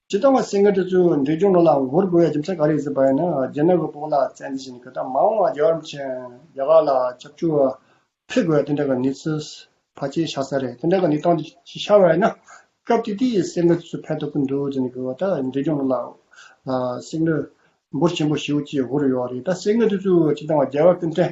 ཇི་ལྟ་བ་སེང་གེ་ཁྲི་ཚོའི་འབྲས་ལྗོངས་ལོ་ལ་ངོ་རྒོལ་བའི་རྒྱུ་མཚན་ག་རེ་ཟེར་བ་ཡིན་ན་རྗེས་མའི་དབུལ་ཕོངས་ལ་བཙན་འཛུལ་བྱས་ནས་གོས་དར་མང་བ་རྒྱ་གར་མཁྱེན་རྒྱ་གར་ལ་ཁྱབ་འཇུག་ཕེབས་དགོས་དེ་འདྲ་ག་ནི་ཚོད་ཕ་ཅེ་ཤ་ས་རེད་དེ་འདྲ་ག་ནི་སྟངས་ཅི་ཤ་བ་ཡིན་ན་སྐབས་དེ་དུས་སེང་གེ་ཁྲི་ཚོ་ཕན་ཐོག་གི་འདུག་རྗེས་མའི་གོས་དར་འབྲས་ལྗོངས་ལོ་ལ་སེང་གེ་འབུར་ཆེན་པོ་བཞི་བོ་བཅས་དགོས་རུ་ཡོད་རེད་ད་སེང་གེ་ཁྲི་ཚོའི་ཇི་ལྟ་བ་རྒྱལ་བ་ཀུན་བརྟན་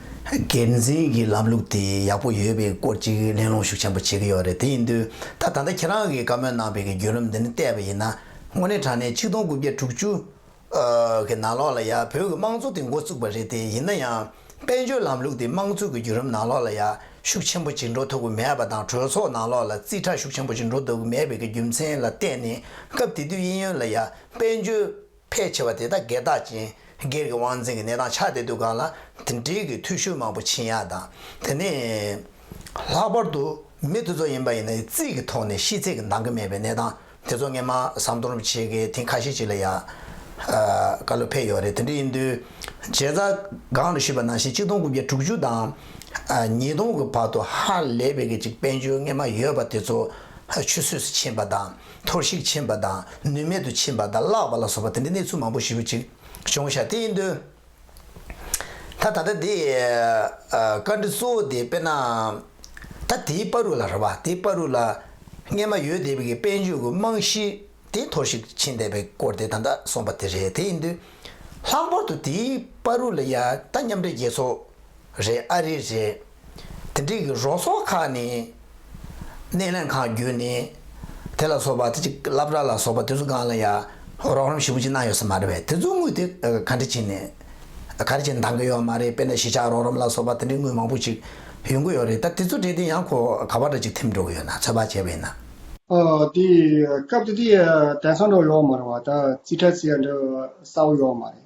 འགན་འཛིན་གྱི་ལམ་ལུགས་དེ་ཡག་པོ་ཡོད་པའི་སྐོར་གཅིག་གླེང་སློང་ཤུགས་ཆེན་པོ་བྱེད་ཀྱི་ཡོད་རེད་དེ་ཡིན་དུས་ད་ད་ལྟ་ཁྱེད་རང་གིས་བཀའ་མོལ་གནང་པའི་གི་བརྒྱུད་ལམ་འདི་ནི་བལྟས་པ་ཡིན་ན་དངོས་གནས་དྲང་གནས་ཆིག་སྟོང་དགུ་བརྒྱ་དྲུག་ཅུ་གི་ནང་ལོགས་ལ་ཡ་བོད་གི་དམངས་གཙོ་དེ་མགོ་བཙུགས་པ་རེད་དེ་ཡིན་ན་ཡང་དཔལ་འབྱོར་ལམ་ལུགས་དེ་དམངས་གཙོ་གི་བརྒྱུད་རམ་ནང་ལོགས་ལ་ཡ་ཤུགས་ཆེན་པོ་ཅིག་འགྲོ་ཐུབ་ཀྱི་མེད་པ་དང་གྲོས་ཚོགས་ནང་ལོགས་ལ་རྩིས་ཁྲ་ཤུགས་ཆེན་པོ་ཅིག་འགྲོ་ཐུབ་ཀྱི་མེད་པའི་གི་རྒྱུ་མཚན་ལ་བལྟས་ནས་སྐབས་དེ་དུས་དབྱིན་ཡོལ་ལ་ཡ་དཔལ་འབྱོར། ཕལ་ཆེ་བ་དེ་དག་སྒེར་བདག་ཅན། སྒེར་གྱི་དབང་འཛིན་གྱི་གནས་སྟངས་ཆགས་བསྡད་འདུག་གང་ལ་དེ་འབྲེལ་གྱི་ཐུགས་ཤུགས་མང་པོ་བྱིན་ཡ་དང་དེ་ནས། ལྷག་པར་དུ་མི་དེ་ཚོ་ཡིན་པ་ཡིན་ན་རྩིས་ཀྱི་ཐོག་ནས་ཤེས་ཚད་ཀྱི་འདང་གི་མེད་པའི་གནས་སྟངས་དེ་ཚོ་ངས་མ་བསམ་མཐོང་རུབ་བྱེད་ཀྱི་ཐེངས་ཁ་ཤས་ཅིག་ལ་ཡ། ཀ་ལོ་ཕེབས་ཡོད་རེད་དེ་འདྲ་ཡིན་དུས། བྱས་ཙང་སྒང་ལ་ཞུས་པ་ནང་བཞིན་གཅིག་སྟོང་དགུ་བརྒྱ་དྲུག་ཅུ་དང། ཉིས་སྟོང་གི་བར་དུ་ཧ་ལས་པའི་གཅིག་དཔལ་འབྱོར་དངོས་མ་ཡོད་པ་དེ་ཚོ་ཆུད་ཟོས་སུ་ཕྱིན་པ་དང། འཐོར་ཞིག་ཕྱིན་པ་དང་ནུས་མེད་དུ་ཕྱིན་པ་དང་བརླག་པ་ལ་སོགས་པ་དེ་འདྲའི་གནས་ཚུལ་མང་པོ་ཞིབ་ཅིག་གཞུང་ཞལ་ཏེ་ཡིན་དོན། ད་ད་ལྟ་དེའི་བཀའ་འདྲི་གཙོ་བོ་དེ་དཔེར་ན། ད་དེའི་དཔའ་རུ་ལ་ར་བ་དེའི་དཔའ་རུ་ལ་སྔས་མ་ཡོད་དེ་བས་ཀྱི་དཔལ་འབྱོར་གྱི་རྨང་གཞི་དེ་འཐོར་ཞིག་ཕྱིན་བསྡད་པའི་སྐོར་དེ་ད་ལྟ་སོང་པ་དེ་རེད་དེ་ཡིན་དོན། ལྷག་པར་དུ་དེའི་དཔའ་རུ་ལ་ཡ་ད་མཉམ་འབྲེལ་རྒྱལ་ཚོགས། རེད་ཨ་རི་རེད། དེ་འགྲིག་གི་རོགས་ཚོགས་ཁག་ནི། སྣེ་ལེན་ཁང་བརྒྱུད་ནས། དེ་ལ་སོགས་པ་དེ་ཅིག་བསླབ་གྲྭ་ལ་སོགས་པ་དེ་ཚོ་གང་ལ་ཡ། རོགས་རམ་ཞིབ་པོ་ཅིག་གནང་ཡོད་ས་མ་རེད་བས་དེ་ཚོ་དངུལ་དེ་ག་འདྲི་བྱས་ནས། ག་རེ་བྱས་ནས་འདང་གི་ཡོད་མ་རེད་དཔེར་ན་གཞིས་ཆགས་རོགས་རམ་ལ་སོགས་པ་དེ་འདྲའི་དངུལ་མང་པོ་ཅིག་ཡོང་གི་ཡོད་རེད་ད་དེ་ཚོ་བྲེལ་ཏེ་ཡང་ཁོ་ག་བ་འདྲ་ཅིག་ཐེམ་འགྲོ་གི་ཡོད་ན་ཚོད་དཔག་བྱས་པས་ན། དེ་སྐབས་དེ་དུས་དེང་སང་འདྲ་བ་ཡོད་མ་རེད་བ་ད་རྩིས་ཁྲ་རྩིས་ཡ་འདྲ་བ་གསལ་བོ་ཡོད་མ་རེད།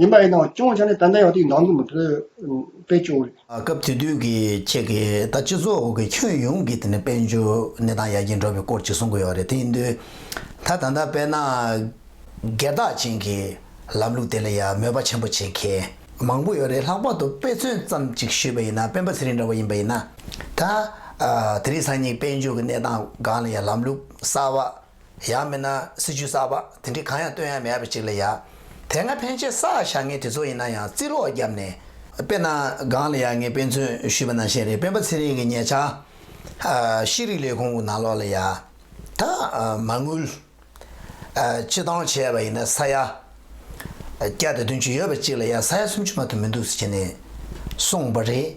ཡིན་པ་ཡིན་ནའང་ཅུང་ཆེ་ནས་ཏན་ཏན་ཡོང་དུས་ནང་དོན་མི་ཕེབས་པས་ཅུང་རེད། སྐབས་དེ་དུས་ཀྱི་ཁྱེད་ཀྱིས་ད་སྤྱི་ཚོགས་ཀྱི་ཁྱོན་ཡོངས་ཀྱི་དེ་ནས་དཔལ་འབྱོར་གནས་སྟངས་ཡར་རྒྱས་འགྲོ་བའི་སྐོར་ཅིག་གསུང་གི་ཡོད་རེད་དེ་ཡིན་དུས་ད་ད་ལྟ་དཔལ་ནཱ་གའི་བདག་ཅན་གྱི་ལམ་ལུགས་དེ་ལ་ཡང་མོས་པ་ཆེན་པོ་བྱེད་མཁན་མང་པོ་ཡོད་རེད་ལྷག་པར་དུ་དཔེ་མཚོན་ཙམ་ཅིག་ཞུས་པ་ཡིན་ན་སྤེན་པ་ཚེ་རིང་འདྲ་བ་ཡིན་པ་ཡིན་ན་ད་དེ་རིང་སང་ཉིན་དཔལ་འབྱོར་གྱི་གནས་སྟངས་སྒང་ལ་ཡང་ལམ་ལུགས་གསར་བ་ཡང་མིན་ན་སྲིད་ཇུས་གསར་པ་དེ་འདྲས་གང་ཡང་བཏོན་ཡ་མེད་ཡ་པའི་ཅིག་ལ་ཡ། དེ་སྔ་ཕན་ཆད་ས་ཞག་ངན་དེ་ཚོ་ཡིན་ན་ཡང་རྩིས་ལོག་བརྒྱབ་ནས། དཔེར་ན་སྒང་ལ་ཡ་ངས་དཔེ་མཚོན་ཞུས་པ་ནང་བཞིན་རེད་སྤེན་པ་ཚེ་རིང་གི་ཉེ་ཆར། ཤེས་རིག་ལས་ཁུངས་ནང་ལོག་ལ་ཡ། ད། མ་དངུལ། སྤྱི་བཏང་བྱས་པ་ཡིན་ན་ས་ཡ། བརྒྱ་དང་བདུན་ཅུ་ཡོད་པ་གཅིག་ལ་ཡང་ས་ཡ་སུམ་ཅུ་མ་ཐུབ་མི་འདུག་ཟེར་ནས་གསུངས་པ་རེད།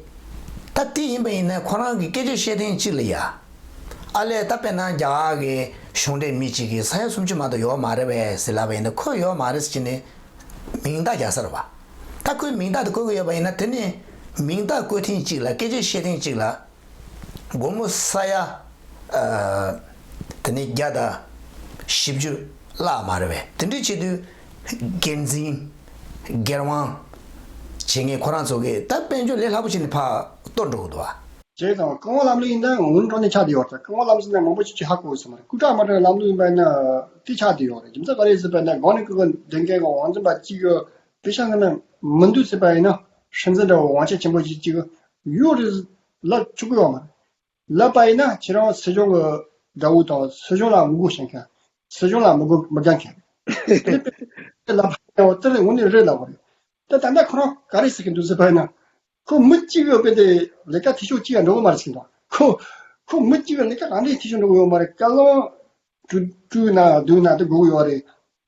ད་དེ་ཡིན་པ་ཡིན་ན་ཁོ་རང་གི་སྐད་ཆ་བཤད་ཐེངས་གཅིག་ལ་ཡ་ཨ་ལས་ད་དཔེར་ན་རྒྱ་གར་གྱི་གཞུང་འབྲེལ་མི་གཅིག་གིས་ས་ཡ་སུམ་ཅུ་མ་ད་ཡོད་མ་རེད་བས་ཟེར་ལབ་པ་ཡིན་ན་ཁོས་ཡོད་མ་རེད་ཟེར་གྱི་ནས་མིང་རྟགས་རྒྱག་ས་རེད་བ། ད་ཁོས་མིང་རྟགས་དེ་བཀོལ་གྱི་ཡོད་པ་ཡིན་ན་དེ་ནས་མིང་རྟགས་བཀོལ་ཐེངས་གཅིག་ལ་སྐད་ཆ་བཤད་ཐེངས་གཅིག་ལ། སྒོར་མོ་ས་ཡ་དེ་ནས་བརྒྱ་དང་བཞི་བཅུ་བརླག་མ་རེད་བས་དེ་འདྲའི་ཆེད་དུ་སྒེར་འཛིན་སྒེར་དབང་བྱེད་མཁན་ཁོ་རང་ཚོ་གི་ད་དཔལ་འབྱོར་ལས་སླ་པོ་བྱས་ནས་ཕར་ལྟོ་འགྲོ་གི་འདུག་བ། ཞེས་དང། རྐང་བ་ལམ་ལུགས་ཡིན་ན་ང་ངོ་འགྲོ་ནས་ཆགས་ཏེ་ཡོད་རེད་རྐང་བ་ལམ་ཟིན་ན་མང་པོ་ཅི་ཆི་ཧ་གོ་གི་ཟེར་མ་རེད་སྐུ་དྲག་དམར་ཁྲག་གི་ལམ་ལུགས་ཡིན་པ་ན་དེ་ཆགས་ཏེ་ཡོད་རེད་རྒྱུ་མཚན་ག་རེ་ཟེར་བ་ན་གང་ནས་སྐུ་གོང་བདེ་མཁན་གྱི་བང་ཆེན་པ་གཅིག་ཡོད་དེ་ཤང་ཀི་ན་མི་འདུག་ཟེར་བ་ཡིན་ན་ཧྲིན་ཛེན་འདྲ་བའི་བང་ཆེན་ཆེན་པོ་གཅིག་གཡུ་རི། ལ་ཕྱུག་གཡོག་མ། ལ་པ་ཡིན་ན་ཁྱེད་རང་བོད་སྐྱོང་གི་དགྲ་བོ་དང་བོད་སྐྱོང་ལ་ངོ་རྒོལ་བྱེད་མཁན། བོད་སྐྱོང་ལ་མི་དགོས་མི་རྒྱག་མཁན། དེ་ལྟ་བུའི་ལ་པ་ཡིན་ཡང་དེ་ལས་ངོ་ནས་རེད་ལབ་པ་རེད། དེ་ད་ལྟ་ཁོ་རང་ག་རེ་བྱེད་ཀྱི་འདུག་ཟེར་བ་ཡིན་ན། ཁོ་མི་གཅིག་གི་དཔེ་དེ་ལས་ཀ་འཐུས་ཤོར་གཅིག་ཡང་འགྲོ་གི་མ་རེད་ཟེར་གྱི་འདུག་ཁོ། ཁོ་མི་གཅིག་གི་ལས་ཀ་རང་འདྲའི་འཐུས་ཤོར་འགྲོ་གི་ཡོད་མ་རེད་བཀའ་བློན། སྤྲུལ་སྤྲུལ་ན་སྡུག་ན་སྡུག་དགོས་ཀྱི་ཡོད་རེད།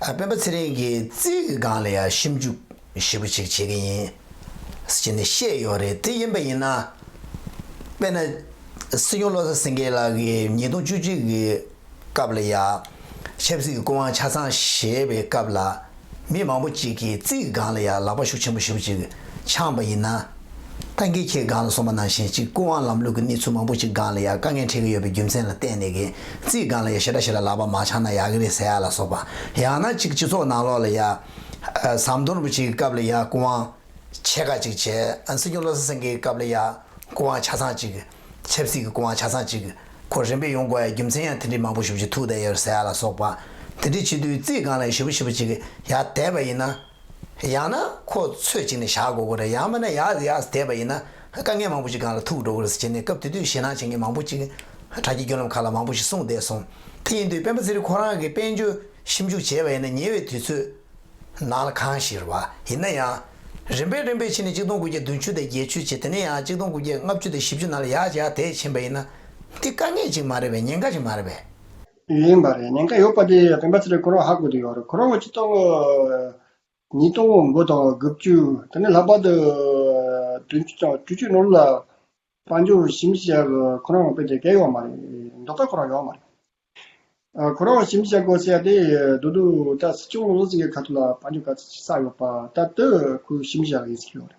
སྤེན་པ་ཚེ་རིང་གིས་རྩིས་ཀྱི་སྒང་ལ་ཡང་ཞིབ་འཇུག་ཞིབ་པོ་ཅིག་བྱེད་ཀྱི་ཡིན། ཅི་ནས་བཤད་ཡོད་རེད་དེ་ཡིན་པ་ཡིན་ན། དཔེར་ན། སྲིད་སྐྱོང་བློ་བཟང་སེང་གེ་ལགས་ཀྱིས་ཉིས་སྟོང་བཅུ་གཅིག་གི་སྐབས་ལ་ཡང། ཆབ་སྲིད་ཀྱི་སྐུ་དབང་ཆ་ཚང་བཞེས་པའི་སྐབས་ལ། མི་མང་པོ་ཅིག་གིས་རྩིས་ཀྱི་སྒང་ལ་ཡང་ལག་པ་ཤུགས་ཆེན་པོ་ཞིབ་པོ་ཅིག་འཆང་བ་ཡིན་ན། ད་གིན་ཁྱེད་སྒང་ལ་སོང་པ་ནང་བཞིན་གཅིག་སྐུ་དབང་ལམ་ལུགས་ཀྱི་གནས་ཚུལ་མང་པོ་གཅིག་སྒང་ལ་ཡང་དཀའ་ངལ་འཕྲད་ཀྱི་ཡོད་པའི་རྒྱུ་མཚན་ལ་བརྟེན་ནས་གིན་རྩིས་སྒང་ལ་ཡང་ཞེ་དྲག་ཞིག་ལ་ལག་པ་མ་འཆང་ན་ཡག་གི་རེད་ཟེར་ཡག་ལ་སོགས་པ་ཡང་ན་གཅིག་སྤྱི་ཚོགས་ནང་ལོགས་ལ་ཡང་ཟམ་གདོང་རིན་པོ་ཆེ་གི་སྐབས་ལ་ཡང་སྐུ་དབང་ཆེ་ཁག་གཅིག་བྱས་སྲིད་སྐྱོང་བློ་བཟང་སེང་གེའི་སྐབས་ལ་ཡང་སྐུ་དབང་ཆ་ཚང་གཅིག་ཆབ་སྲིད་ཀྱི་སྐུ་དབང་ཆ་ཚང་གཅིག་ཁོ་རིམ་པས་ཡོང་དགོས་ཡ་རྒྱུ་མཚན་ཡང་དེ་འདྲའི་མང་པོ་ཞུ་བྱེད་ཐུགས་དད་ཡོད་ཟེར་ཡག་ལ་སོགས་པ་དེ་འདྲའི་ཆེད་དུས་རྩིས་སྒང་ལ་ཡང་ཞིབ་པོ་ཞིབ་པོ་གཅིག་ཡག་དད་པ་ཡིན་ན། ཡང་ན་ཁོ་ཚོས་བྱས་ནས་བཞག་དགོས་གོ་རེད་ཡང་མིན་ན་ཡག་ཡག་བསྡད་པ་ཡིན་ན་དཀའ་ངལ་མང་པོ་ཞིག་གང་ལ་ཐུག་འགྲོ་གི་རེད་བྱས་ནས་སྐབས་དེ་དུས་ཞེད་སྣང་བྱེད་མཁན་མང་པོ་ཅིག་དྲ་རྒྱའི་རྒྱུ་ལམ་ཁག་ལ་མང་པོ་ཞིག་སྲུང་བསྡད་སོང་དེ་ཡིན་དུས་སྤེན་པ་ཚེ་རིང་ཁོ་རང་གིས་དཔལ་འབྱོར་ཞིབ་འཇུག་བྱས་པ་ཡིན་ན་ཉེ་བའི་དུས་ཚོད་ནང་ལ་གང་ཞིག་རེད་བ་ཡིན་ན་ཡང་རིམ་པས་རིམ་པས་ཕྱིན་ནས་གཅིག་སྟོང་དགུ་བརྒྱ་བདུན་ཅུ་དང་བརྒྱད་ཅུ་བྱས་དེ་ནས་ཡང་གཅིག་སྟོང་དགུ་བརྒྱ་ལྔ་བཅུ་དང་བཞི་བཅུ་ནང་ལ་ཡག་ཡག་བསྡད་ཕྱིན་པ་ཡིན་ན་འདི་དཀའ་ངལ་ཅིག་མ་རེད་བས་ཉེན་ཁ་ཞིག་མ་རེད་བས། ཡིན་པ་རེད་ཉེན་ཁ་ཡོད་པ་དེ་བེམ་པ་ཚེ་རིང་ཁོ་རང་ཧ་གོ་དུ་ཡོད་རེད་ཁོ་རང་ངོ་ཆི་སྟོང་ཉིས་སྟོང་དགུ་དང་དགུ་བཅུ་དེ་ནས་ལྷག་པར་དུ་བདུན་བཅུ་དང་བཅུ་བཅུ་ནོར་ལ་དཔལ་འབྱོར་ཞིབ་འཇུག་བྱས་པ་ཁོ་རང་དཔེ་དེབ་གས་ཡོད་མ་རེད་མདོ་ཁ་ཁོ་རང་ཡོད་མ་རེད། ཁོ་རང་ཞིབ་འཇུག་བྱས་གོ་བྱས་དེ་བསྡུ་དུ་ད་སྲིད་སྐྱོང་བློ་སེང་གི་ཁ་ཐུག་ལ་དཔལ་འབྱོར་ག་ཚོད་ཆགས་ཡོད་པ་ད་ལྟོས་ཁོའི་ཞིབ་འཇུག་བྱས་པ་ཡིན་ཟེར་གྱི་ཡོད་རེད།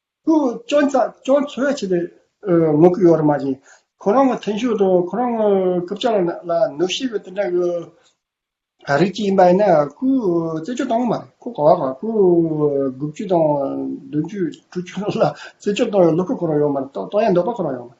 སྐྱོན་ཚ་སྐྱོན་འཚོལ་བྱེད་པའི་ངོ་རྒོལ་ཡོད་རེད་མ་གཞི། ཁོ་རང་ངོ་ཐེངས་ཤོས་དང་ཁོ་རང་ངོ་སྐུ་བཅར་ལ་ནག་ལ་ནུབ་ཤེས་པའི་དེ་འདྲ་གི་རིགས་ཅིག་ཡིན་པ་ཡིན་ན་ཁོའི་རྩེད་འཇོ་བཏང་གི་མ་རེད་ཁོ་གོ་བ་གོ་ཁོའི་དགུ་བཅུ་དང་བདུན་བཅུ་དྲུག་བཅུ་ལ་རྩེད་འཇོ་བཏང་ཡོད་ལུགས་ཁོ་རང་ཡོད་མ་རེད་བཏང་ཡ་འདོད་པ་ཁོ་རང་ཡོད་མ་རེད།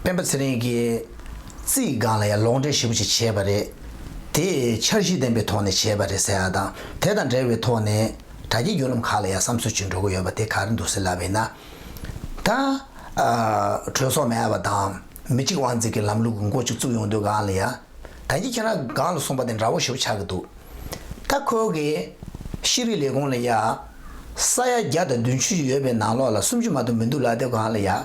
སྤེན་པ་ཚེ་རིང་གིས་རྩིས་སྒང་ལ་ཡང་ལོག་འགྲེལ་ཞིབ་པོ་ཞིག་བྱས་པ་རེད། དེ་འཆར་གཞི་ལྡན་པའི་ཐོག་ནས་བྱས་པ་རེད་ཟེར་བ་དང་དེ་དང་འབྲེལ་བའི་ཐོག་ནས་དྲ་རྒྱའི་བརྒྱུད་ལམ་ཁག་ལ་ཡང་བསམ་ཚུལ་བྱུང་འགྲོ་གི་ཡོད་པ་དེ་ག་རེ་འདུག་ཟེར་ལབ་པས་ན། ད་གྲོས་ཚོགས་མེད་པ་དང་མི་གཅིག་དབང་འཛིན་གྱི་ལམ་ལུགས་ཀྱི་མགོ་གཅིག་བཙུགས་ཡོང་དུས་སྒང་ལ་ཡང། ད་ངས་ཁྱེད་རང་སྒང་ལ་གསུངས་པ་དེ་འདྲ་བོ་ཞིག་ཆགས་ཀྱི་འདུག་ད་ཁོའོ་གི་ཤེས་རིག་ལས་ཁུངས་ལ་ཡང་ས་ཡ་བརྒྱ་དང་བདུན་ཅུ་ཡོད་པའི་ནང་ལོགས་ལ་སུམ་ཅུ་མ་གཏོགས་མི་འདུག་ལབ་དེ་སྒང་ལ་ཡང།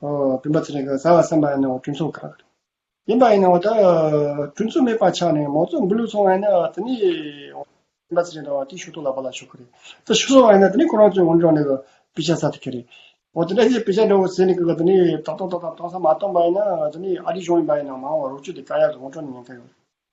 བུམ་པ་ཚེ་རིང་གིས་བཟའ་བར་སེམས་པ་ཡིན་ནའོ་སྤྲུལ་མཚུངས་ག་རེ། ཡིན་པ་ཡིན་ནའོ་ད་སྤྲུལ་མཚུངས་མེད་པ་ཆགས་ནས་མོ་ཚོ་འགུལ་ལུགས་ཚོང་བ་ཡིན་ན་དེ་ནི། བུམ་པ་ཚེ་རིང་དང་བ་ཏི་ཤུག་ཏོག་ལ་བ་ལ་ཤོ་ཁུ་རེད་ད་ཤི་སོང་བ་ཡིན་ན་དེ་ནི་ཁོ་རང་ཚོའི་ངོ་འདྲ་ནས་དཔེ་ཆ་ཟ་ཐུབ་ཀྱི་རེད། འོ་དེ་འདྲ་ཞིག་དཔེ་ཆ་འདྲ་བོ་ཟས་ནས་གི་དེ་ནི་ཏག་ཏག་ཏག་ཏག་གཏོང་ས་མ་གཏོང་པ་ཡིན་ན་དེ་ནི་ཨ་རིའི་གཞུང་ཡིན་པ་ཡིན་ན་མང་བ་རོགས་སྐྱོར་དེ་ཀ་ཡག་གི་ངོ་འཕྲོ་ནས་ཉན་ཀ་ཡོད་རེད།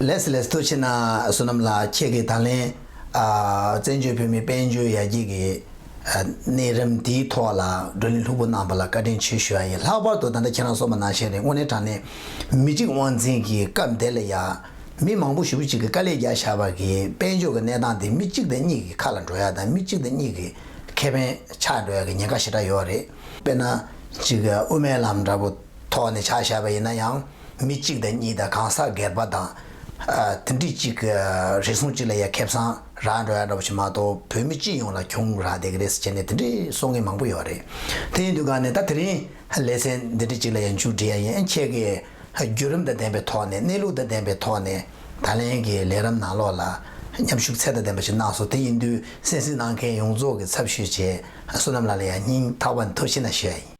ལས་སུ་ལས་སུ་མཐོ་ཕྱིར་ན་བསོད་ནམས་ལགས་ཁྱེད་ཀྱི་ད་ལན་བཙན་བྱོལ་བོད་མིའི་དཔལ་འབྱོར་ཡར་རྒྱས་ཀྱི་གནས་རིམ་དེའི་ཐོག་ལ་བགྲོ་གླེང་ལྷུག་པོ་གནང་བ་ལ་བཀའ་དྲིན་ཆེ་ཞུ་ཡ་ཡིན་ལྷག་པར་དུ་ད་ལྟ་ཁྱེད་རང་སོགས་མ་ནང་བཞིན་རེད་དངོས་གནས་དྲང་གནས་མི་གཅིག་དབང་འཛིན་གྱི་སྐབས་འདི་ལ་ཡ་མི་མང་པོ་ཞུ་བོ་གཅིག་གི་དཀའ་ལས་རྒྱག་བཞག་པར་གྱི་དཔལ་འབྱོར་གྱི་གནས་སྟངས་འདི་མི་གཅིག་དང་གཉིས་ཀྱི་ཁ་ལ་འགྲོ་ཡ་དང་མི་གཅིག་དང་གཉིས་ཀྱི་ཁེ་ཕན་ཆགས་འགྲོ་ཡ་གྱི་ཉེན་ཁ་ཞེ་དྲག་ཡོད་རེད་དཔེར་ན་གཅིག་དབུ་མའི་ལམ་འདྲ་པོ། ཐོག་ནས་བྱ་བཞག་པ་ཡིན་ན་ཡང་མི་གཅིག་དང་གཉིས་དང་གང་ཟག་སྒེར་པ་དང། མཐུན་སྒྲིལ་གཅིག་གི་རེ་ཟུང་གཅིག་ལ་ཡ་མཁས་བཟང་རང་འགྲོ་ཡ་འགྲོ་བ་ཞིག་མ་གཏོགས་བོད་མི་སྤྱི་ཡོངས་ལ་གྱོང་རག་བསྡད་ཀྱི་རེད་ཟེར་བྱས་ནས་དེ་འདྲའི་སྲོག་ངན་མང་པོ་ཡོད་རེད། དེ་ཡིན་དུས་ག་ནས་ད་དེ་རིང་ལས་ཚན་འདི་འདྲའི་གཅིག་ལ་ཡ་མཇུག་འགྲིལ་ཡ་ཡིན་ཁྱེད་ཀྱིས་བརྒྱུད་རིམ་དང་ལྡན་པའི་ཐོག་ནས་གནས་ལུགས་དང་ལྡན་པའི་ཐོག་ནས་ད་ལན་གྱི་ལས་རམ་ནང་ལོགས་ལ་མཉམ་ཞུགས་ཚད་དང་ལྡན་པ་ཞིག་གནང་སོང་དེ་ཡིན་དུས་སེམས་གཟིགས་གནང་མཁན་ཡོངས་རྫོགས་ཀྱི་ཚབ་ཞུས་བྱས་བསོད་ནམས་ལགས་ལ་ཡ་སྙིང་ཐག་པ་འཐོར་ཤེས་ན་ཞུ་ཡ་ཡིན།